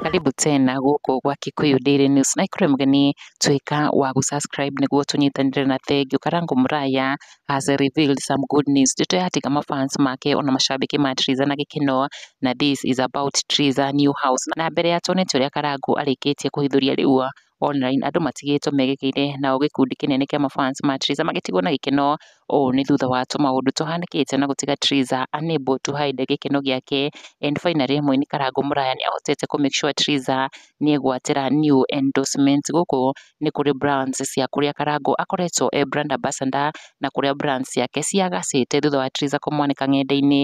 Karibu tena gũkũ gwa Kikuyu Daily News na ikũrĩ mũgeni tuĩka wa gũ-subscribe nĩguo tũnyitanĩre na thengiũ Karango Muraya has revealed some good news ndeto ya tiga mafans make ona mashabiki ma Triza na gĩkeno na this is about Triza new house na mbere ya tuonete ũrĩa Karango arĩkĩtie kũhithũria rĩu online, andũ matigĩtwo megegeire nao gĩkundi kĩnene kĩa ma fans ma Triza magĩtigwo na gĩkeno, ũũ nĩ thutha wa tũmaũndũ tũhanĩkĩte na gũtiga Triza unable to hide gĩkeno gĩake and finally mũini Karangũ Mũraya nĩ ahotete kũ make sure Triza nĩ egwatĩra new endorsement. Gũkũ nĩ kũrĩ brands cia kũrĩa Karangũ akoretwo e brand ambassador na kũrĩa brands ciake ciagacĩte thutha wa Triza kũmwanĩka ng'enda-inĩ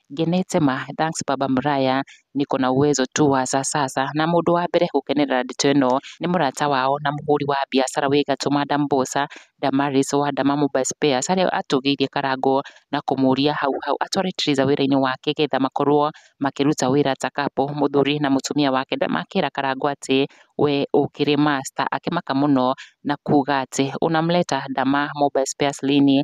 ngenete ma, thanks baba mũraya, niko na uwezo tu wa sasa sasa, na mũndũ wa mbere gũkenerera ndeto ĩno nĩ mũrata wao na mũhũri wa biacara wĩ gatũ Madam Mbosa Damaris wa Dama Mobile Spares arĩa atũgĩirie karango na kũmũria hau hau atware Teresa wĩra-inĩ wake getha makorwo makĩruta wĩra ta kapo mũthuri na mũtumia wake makĩra karango atĩ we ũkĩrĩ master akĩmaka mũno na kuga atĩ unamleta Dama Mobile Spares lini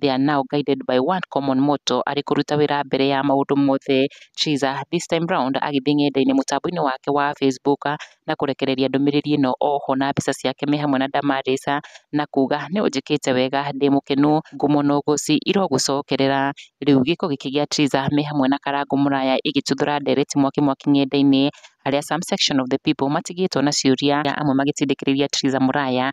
They are now guided by one common motto arĩ kũruta wĩra mbere ya maũndũ mothe. Chiza this time round agĩthiĩ ng'enda-inĩ mũtambo-inĩ wake wa Facebook na kũrekereria ndũmĩrĩri ĩno oho na mbica ciake me hamwe na Damaris na kuga nĩ ũnjĩkĩte wega ndĩ mũkenu ngumo na ũgũci irogũcokerera. Rĩu gĩko gĩkĩ gĩa Chiza me hamwe na Karangũ Mũraya ĩgĩtuthũra ndereti mwaki mwaki ng'enda-inĩ harĩa some section of the people matigĩtwo na ciũria amwe magĩtindĩkĩrĩria Chiza Mũraya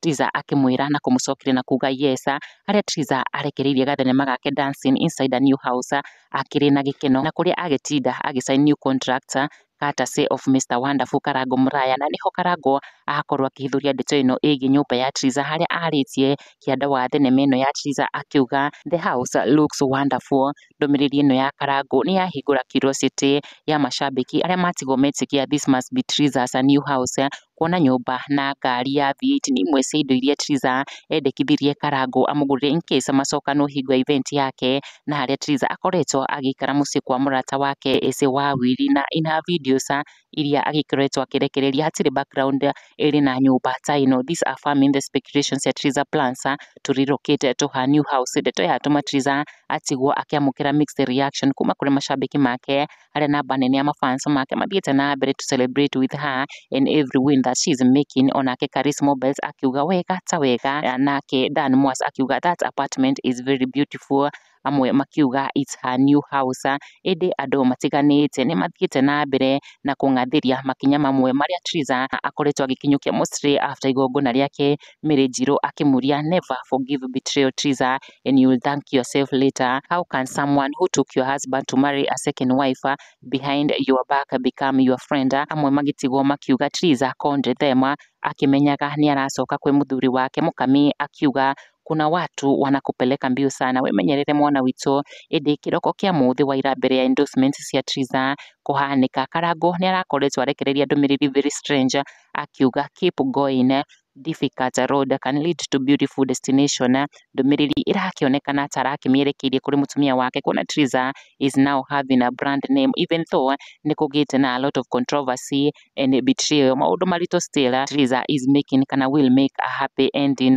Tizza akĩmwĩra na kũmũcokeria na kuuga yes. Harĩa Tizza arekereirie gathenema gake Dancing Inside a New House akĩrĩ na gĩkeno na kũrĩa agĩtinda agĩ sign new contract courtesy of Mr Wonderful Karango Mũraya na nĩho Karango akorwo akĩhithũria ndeto ĩno ĩgiĩ nyũmba ya Tizza harĩa arĩtie kĩanda wa thenema ĩno ya Tizza akiuga the house looks wonderful ndũmĩrĩri ĩno ya Karangũ nĩ yahingũra curiosity ya macambĩki arĩa matigwo metĩkia this must be Triza as a new house kuona nyũmba na ngari ya V8 nĩ imwe cia indo iria Triza endekithirie Karangũ amũgũrĩre in case amacokanwo hingo ya event yake na harĩa Triza akoretwo agĩikara mũciĩ kwa mũrata wake Eze Wawiri na in her videos iria agĩkoretwo akĩrekereria hatirĩ background ĩrĩ na nyũmba ta ĩno. These are farming the speculations that Triza plans to relocate to her new house. Ndeto ĩyo yatũma Triza atigwo akĩamũkĩra mixed reaction kuma kũrĩ macambĩki make arĩa namba nene ya mafans make mathiĩte na mbere to celebrate with her in every win that she is making. Onake Karis Mobiles akiuga wega ta wega, nake Dan Mwas akiuga that apartment is very beautiful amwe makiuga it's her new house ĩndĩ andũ matiganĩte nĩ mathiĩte na mbere na kũng'athĩria makinya mamwe marĩa Triza akoretwo agĩkinyũkia Mostly after igongona rĩake Mary Njirũ akĩmũria never forgive betrayal Triza and you will thank yourself later how can someone who took your husband to marry a second wife behind your back become your friend amwe magĩtigwo makiuga Triza condemn them akĩmenyaga nĩ aracoka kwĩ mũthuri wake mũkami akiuga Kuna watu wanakupeleka mbio sana. Wĩmenyerere mwana witũ, ĩndĩ kĩroko kĩa mũthĩ wa ira mbere ya endorsements cia Triza kũhanĩka, Karango nĩ arakoretwo arekereria ndũmĩrĩri very strange akiuga keep going difficult road can lead to beautiful destination. Ndũmĩrĩri ĩrakĩonekana ta arakĩmĩerekeirie kũrĩ mũtumia wake kuona Triza is now having a brand name even though nĩ kũgĩte na a lot of controversy and betrayal. Maũndũ maritũ still Triza is making kana will make a happy ending.